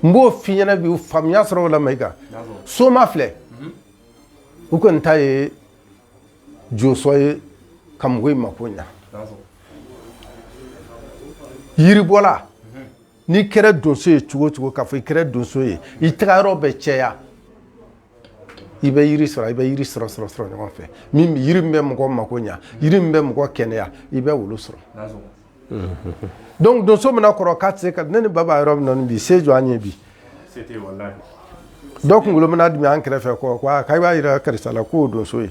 n b'o f'i ɲɛna bi faamuya sɔrɔ o la Mayiga soma filɛ u kɔni ta ye josɔn ye ka mɔgɔw mako ɲa yiribɔla n'i kɛra donso ye cogo o cogo k'a fɔ i kɛra donso ye i taga yɔrɔ bɛ cɛya i bɛ yiri sɔrɔ i bɛ yiri sɔrɔ sɔrɔ sɔrɔ ɲɔgɔn fɛ min yiri min bɛ mɔgɔ mako ɲa yiri min bɛ mɔgɔ kɛnɛya i bɛ olu sɔrɔ donc donso mina kɔrɔ k'a tɛ se ka ne ni baba yɔrɔ min na nin bi se jɔ an ye bi dɔ kunkolo mina dimi an kɛrɛfɛ kɔ k'a i b'a yira karisa la k'o donso ye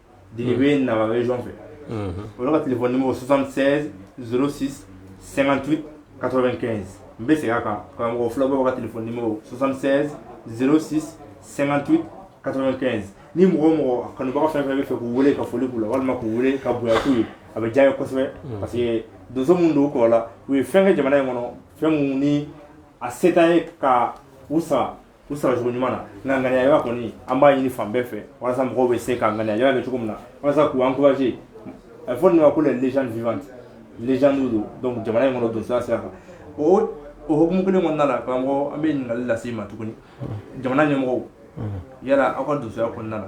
Dili bɛ Nara région fɛ olu ka téléphone numéro 76 06 58 95 n bɛ segin a kan karamɔgɔ Fila Baba ka téléphone numéro 76 06 58 95 ni mɔgɔ o mɔgɔ a kanubaga fɛn o fɛn bɛ fɛ k'u wele ka foli k'u la walima k'u wele ka bonya k'u ye a bɛ diya n ye kosɛbɛ parce que donso minnu don u kɔrɔla u ye fɛn kɛ jamana in kɔnɔ fɛn minnu ni a se t'an ye ka u sara u saracogo ɲuman na nka ŋaniya kɔni an b'a ɲini fan bɛɛ fɛ walasa mɔgɔw bɛ se ka ŋaniya kɛ cogo min na walasa k'u encourager a bɛ fɔ nin ma ko les légendes vivantes légendes don donc jamana in kɔnɔ donsoya sira kan o o hukumu kelen kɔnɔna la karamɔgɔ an bɛ ɲininkali lase i ma tuguni jamana ɲɛmɔgɔw yala aw ka donsoya kɔnɔna la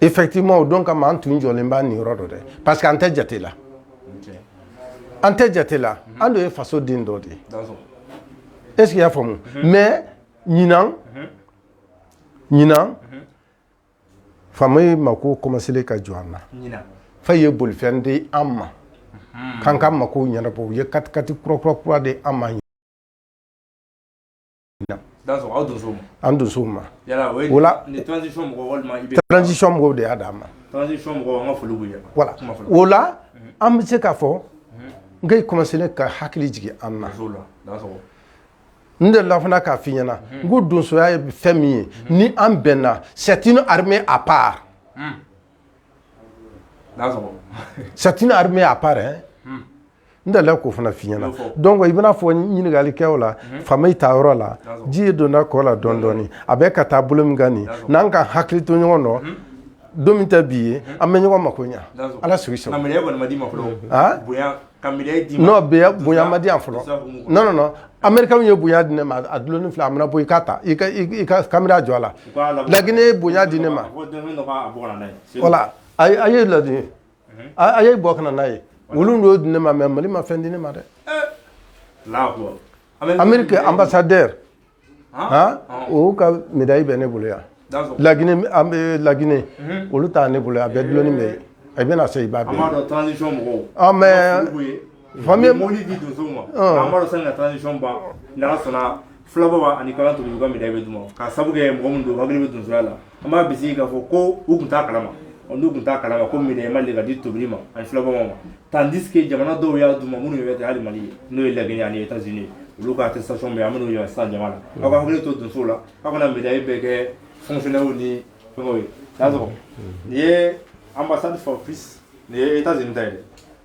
effectivement o don kama an tun jɔlen b'a nin yɔrɔ dɔ dɛ parce que an tɛ jate la an tɛ jate la an dun ye faso den dɔ de ye est ce que i y'a faamu mhm. mais ɲinan mhm. ɲinan mhm. faamaw mako kɔmasele ka jɔ an na ɲinan faamaw ye bolifɛn di an ma k'an ka makow ɲɛnabɔ u ye katikati kurakura kura di an ma an dusu ma mɔgɔw de y'a d'a ma o la an bɛ se k ka fɔ n i kɔlɔsi ka hakili jigin an ma n de la fana k'a fɔ i ɲɛnaɲɛna n ko donsoya ye fɛn min ye ni an bɛnna sɛti ni a pa sɛti ni a pa dɛ n dala k'o fana f'i ɲɛna donc i bɛna fɔ ɲininkali kɛ o la mhm. faamaw ta yɔrɔ la ji ye donna kɔ la dɔɔni dɔɔni a bɛ ka taa bolo min kan nin n'an k'an hakili to ɲɔgɔn nɔ mhm. don min tɛ bi ye mhm. an bɛ ɲɔgɔn mako ɲa ala sigi sɔrɔ n'o bɛ bonya ma di yan fɔlɔ non non non américainw ye bonya di ne ma a dulonni filɛ a mana bɔ i k'a ta i ka i ka kamera jɔ a la laginɛ ye bonya di ne ma voilà a ye ladini a ye bɔ ka na n'a ye olu dɔ di ne ma mais mali ma fɛn di ne ma dɛ amérique ambassadeur o ka médaille bɛ ne bolo yan laginɛ an bɛ laginɛ olu ta ne bolo a bɛɛ dulonni bɛ yen a bɛna se i ba mɛ fila baba ani kalan tuguni ka médaille bɛ d'u ma k'a sabu kɛ mɔgɔ min don hakili bɛ donsoya la an b'a bisigi k'a fɔ ko u tun t'a kalama ɔ n'u tun t'a kalama ko médaille ma deli ka di tobili ma ani fila baba ma tandis que jamana dɔw y'a d'u ma minnu yɛrɛ tɛ hali mali ye n'o ye lagine ani états unis olu ka attestation bɛ an bɛn'u yira sisan jama la aw ka hakili to donsow la aw kana médaille bɛɛ kɛ fonctionnaire ni fɛngɛw ye y'a sɔrɔ nin ye ambassade for peace nin ye états unis ta ye dɛ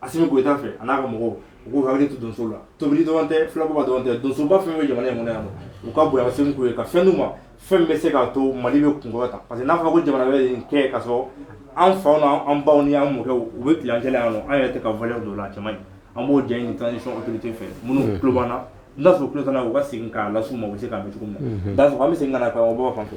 asimi goyita fɛ a n'a ka mɔgɔw u k'u hakili to donsow la tobili dɔrɔn tɛ filababa dɔrɔn tɛ donsoba fɛn bɛ jamana in kɔnɔ yan nɔ u ka bonya segin k'u ye ka fɛn d'u ma fɛn bɛ se k'a to mali bɛ kunkɔrɔta parce que n'a fɔra ko jamana wɛrɛ bɛ nin kɛ ka sɔrɔ an faw na an baw ni an mɔkɛw u bɛ tilancɛ la yan nɔ an yɛrɛ tɛ ka valeur don o la a cɛ man ɲi an b'o ɲɛɲini transition autorité fɛ minnu tulo b'an na n'a sɔrɔ u tulo t'an na u ka segin k'a las'u ma u bɛ se k'a mɛn cogo min na n'a sɔrɔ an bɛ segin ka na karamɔgɔ fan fɛ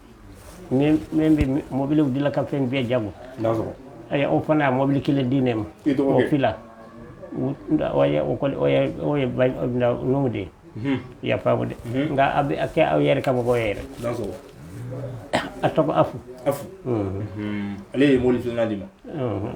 min bɛ mɔbiliw dilan ka fɛn bɛɛ jago ayi o fana ye mɔbili kelen di ne ma o fila o ye numu de ye i y'a faamu dɛ nka a bɛ kɛ aw yɛrɛ ka mɔgɔ yɛrɛ a tɔgɔ afu ale ye mɔbili filanan di n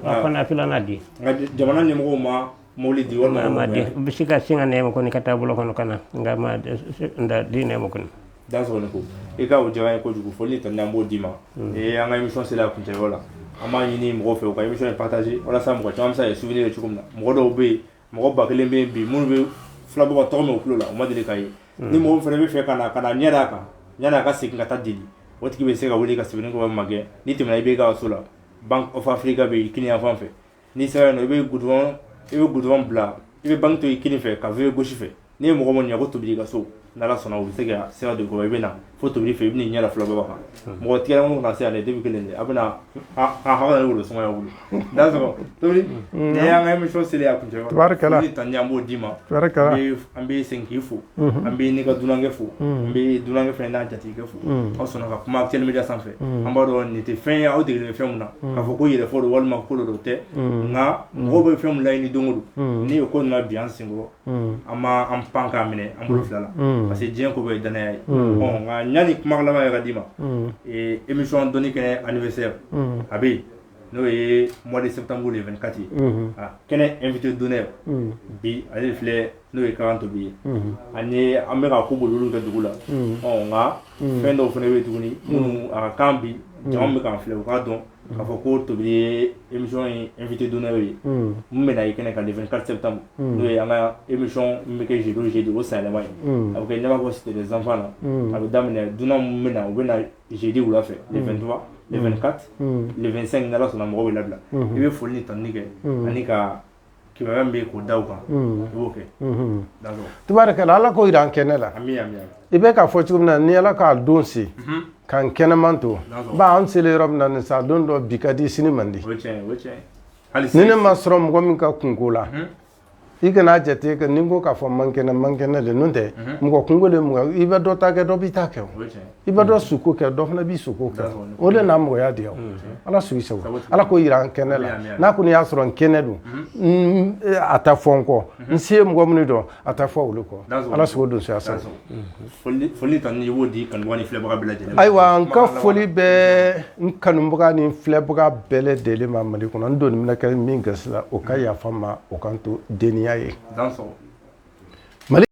ma a fana filanan di an ka jamana ɲɛmɔgɔ ma mobili di walima a ma di n bɛ se ka sin ka nɛma kɔni ka taa bolo kɔnɔ ka na nka ma da di nɛma kɔni dansɔgɔ ne ko i ka o jaba ye kojugu foli tanuni an b'o d'i ma ee an ka émission sera a kuncɛyɔrɔ la an b'a ɲini mɔgɔw fɛ u ka émission in partager walasa mɔgɔ caman bɛ se ka souvenir ye cogo min na mɔgɔ dɔw bɛ yen mɔgɔ ba kelen bɛ yen bi minnu bɛ filabɔ ka tɔgɔ mɛn u tulo la u ma deli k'a ye ni mɔgɔ fana bɛ fɛ ka na ka na ɲɛ d'a kan yanni a ka segin ka taa deli o tigi bɛ se ka wuli ka sɛbɛnikɔrɔ magɛn n'i tɛmɛna ibk so la bank of africa bɛ yen kini yan fan fɛ n'i sera yen nɔ i bɛ gudɔrɔn i bɛ gudɔrɔn bila i bɛ banque to i kini fɛ ka virer gauche fɛ n'i ye mɔgɔ min ye ko tobili ka so n'ala sɔnna u bɛ se ka sira don i kɔrɔ i bɛ na fo tobili fɛ i bɛ n'i ɲɛ da filabɔ kan mɔgɔ tigɛra minnu kana se yan dɛ debi kelen de a bɛ na a hawa yɛrɛ wolo sumaya wolo dansɔgɔ tobili nin y'an ka émission selen a kuncɛ tabarikala ni tanuni an b'o d'i ma tabarikala an bɛ segin k'i fo an bɛ n'i ka dunankɛ fo an bɛ dunankɛ fana n'a jatigikɛ fo aw sɔnna ka kuma actuel média sanfɛ an b'a dɔn nin tɛ fɛn ye aw degelen bɛ fɛn min na k'a fɔ ko yɛrɛfɔ don walima ko dɔ tɛ nka mɔgɔw bɛ fɛn min laɲini don o don n'i ye ko nin bin an senkɔrɔ an b'an pan k'a minɛ an bolo fila la parce que diɲɛ ko bɛɛ ye danaya ye nka yanni kuma laban yɛrɛ d'i ma émission dɔnni kɛnɛ anniversaire a bɛ yen n'o ye mɔdi se tanmuru de kati kɛnɛ n vt don bi ale filɛ n'o ye kan tobi ye ani an bɛka ka ko bolo kɛ dugu la ɔ nka fɛn dɔw fana bɛ tuguni minnu a kan bi jɔn bɛ kan filɛ u k'a dɔn kaa fɔ ko tobi ye emi in vt don ye n bɛna i kɛnɛ ka nin kari tanmu n'o ye an ka emi bɛ kɛ zdo zdu o sanyɛlɛma ye a bɛ kɛ ɲɛnama bɔ siri zanfa na a bɛ daminɛ dunan bɛ na u bɛ jeudi wula fɛ le 23 le 24 le 25 n'ala sɔnna mɔgɔw bɛ labila i bɛ foli ni tanuni kɛ an'i ka kibaruya min bɛ yen k'o da u kan i b'o kɛ tubaarikala ala k'o jira an kɛnɛ la i bɛ k'a fɔ cogo min na ni ala k'a don se k'an kɛnɛman to ba an selen yɔrɔ min na nin sa don dɔ bi ka di sini man di ni ne ma sɔrɔ mɔgɔ min ka kunko la i kana jate kɛ nin ko k'a fɔ n man kɛnɛ n man kɛnɛ de n'o tɛ mɔgɔ kunko de mɔgɔ i bɛ dɔ ta kɛ dɔ b'i ta kɛ o i bɛ dɔ suko kɛ dɔ fana b'i suko kɛ o de na mɔgɔya diya ala sugi sago ala k'o jira an kɛnɛ la n'a kɔni y'a sɔrɔ n kɛnɛ don a tɛ fɔ n kɔ n se ye mɔgɔ minnu dɔn a tɛ fɔ olu kɔ ala sago don suya sago foli tanuni i b'o di kanubaga ni filɛbaga bɛɛ lajɛlen ayiwa n ka foli bɛ n kanubaga ni filɛbaga bɛɛ lajɛlen ma mali kɔnɔ n doni bɛna kɛ min gasi la o ka mm. yafa n ma o kan to deniya ye mali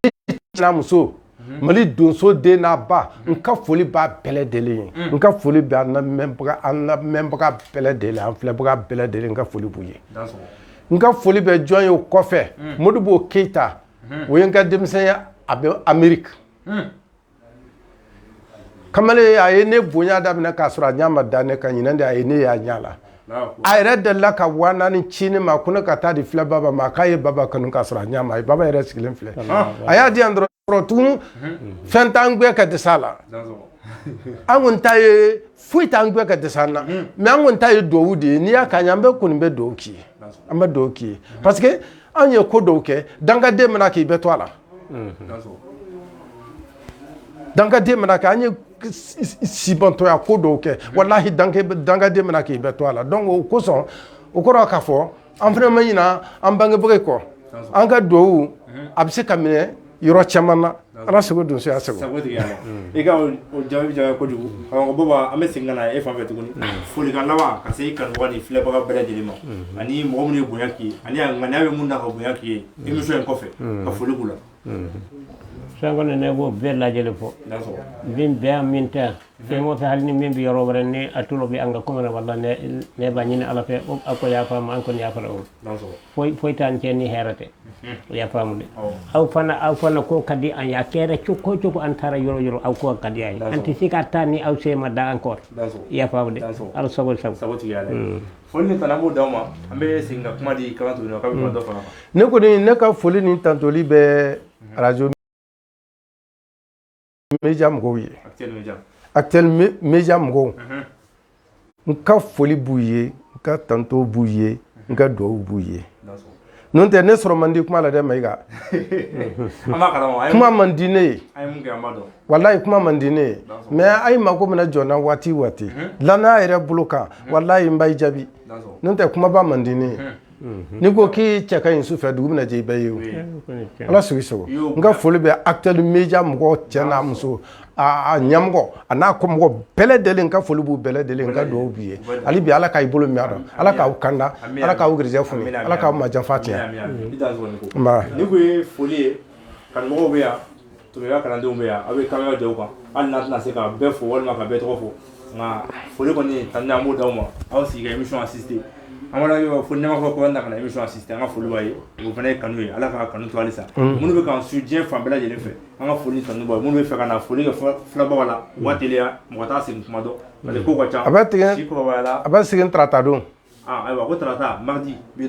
muso mm-hmm. mali donso den n'a ba n mm-hmm. ka foli b'a bɛɛ lajɛlen ye mm. n ka foli bɛ an lamɛnbaga an lamɛnbaga bɛɛ lajɛlen an filɛbaga bɛɛ lajɛlen n ka foli b'u ye n ka foli bɛ jɔn ye o kɔfɛ mm. modibo keyita o ye n ka denmisɛn ye a bɛ ameriki kamalen a ye ne bonya daminɛ k'a sɔrɔ a ɲa ma da ne kan ɲinan de a ye ne y'a ɲɛ la a yɛrɛ dela ka waa naani ci ne ma ko ne ka taa di fila baba ma k'a ye baba kanu k'a sɔrɔ a ɲa ma a ye baba yɛrɛ sigilen filɛ a y'a di yan dɔrɔn tugun fɛn t'an gɛn ka dɛsɛ an na an kɔni ta ye foyi t'an gɛn ka dɛsɛ an na mais an kɔni ta ye dugawu de ye n'i y'a k'an ye an bɛ kɔni bɛ dugawu k'i ye an bɛ dugawu k'i ye parce anw ye ko dɔw kɛ dangaden mana k'i bɛ to a la dangaden mana kɛ an ye sibantɔya ko dɔw kɛ walahi dangaden mana k'i bɛ to a la donc o kosɔn o kɔrɔ k'a fɔ an fana ma ɲina an bangebaga kɔ an ka duwawu a bɛ se ka minɛ yɔrɔ caman na ala sago donsoya sago i ka jaabi diyara kojugu baba an bɛ segin ka na e fan fɛ tuguni folikan laban ka se i kanubaga ni filɛbaga bɛɛ lajɛlen ma ani mɔgɔ minnu ye bonya k'i ye ani ŋaniya bɛ minnu na ka bonya k'i ye émission in kɔfɛ ka foli k'u la fɛn kɔni ne b'o bɛɛ lajɛlen fo min bɛ yan min tɛ fɛn o fɛn hali ni min bɛ yɔrɔ wɛrɛ ni a tulo bɛ an ka kuma na walahi ne b'a ɲini ala fɛ a k'o yafa an ma an kɔni yafara u foyi foyi t'an cɛ ni hɛrɛ tɛ i y'a faamu dɛ aw fana aw fana ko ka di an ye a kɛra cogo o cogo an taara yɔrɔ o yɔrɔ aw ko ka di an ye an tɛ se ka taa ni aw se ma da an kɔrɔ i y'a faamu dɛ ala sago aw sago sago tigi ye ala ye mm. foli ni tanu an b'o d'aw ma an bɛ segin ka kuma di kalantigi ma k'a bɛ kuma dɔ fara ne kɔni ne ka foli ni tantoli bɛ mm-hmm. radio média mɔgɔw ye actuel média mɔgɔw n ka foli b'u ye n ka tanto b'u ye n ka dugawu b'u ye n'o tɛ ne sɔrɔ man di kuma la dɛ Mayiga kuma man di ne ye walahi kuma man di ne ye mais a ye mako mana jɔ n na waati o waati danaya yɛrɛ bolo kan walahi n b'a jaabi n'o tɛ kumaba man di ne ye n'i ko k'i cɛ ka ɲi su fɛ dugu mana jɛ i bɛ ye o ala sago i sago n ka foli bɛ actuel média mɔgɔ cɛ n'a muso ɲamɔgɔ a n'a kɔmɔgɔ bɛɛ lajɛlen n ka foli b'u bɛɛ lajɛlen n ka dugawu b'u ye hali bi ala ka i bolo mɛn a la ala k'aw kanda ala k'aw garijɛgɛ foni ala k'aw majanfa tiɲɛ Tureya kalandenw bɛ yan aw bɛ caméra jɔ u kan hali n'a tɛna se ka bɛɛ fo walima ka bɛɛ tɔgɔ fɔ nka foli kɔni tanu an b'o d'aw ma aw sigi ka émission assister an b'aw fo ne ma fɔ ko na ka émission assister an ka foli b'aw ye o fana ye kanu ye ala ka kanu to halisa minnu bɛ k'an suivre diɲɛ fan bɛɛ lajɛlen fɛ an ka foli tanu b'aw ye minnu bɛ fɛ ka na foli kɛ fila baba la u ka teliya mɔgɔ t'a segin tuma dɔn ko ka ca a bɛ tigɛ a bɛ segin tarata don ayiwa ko tarata mardi bi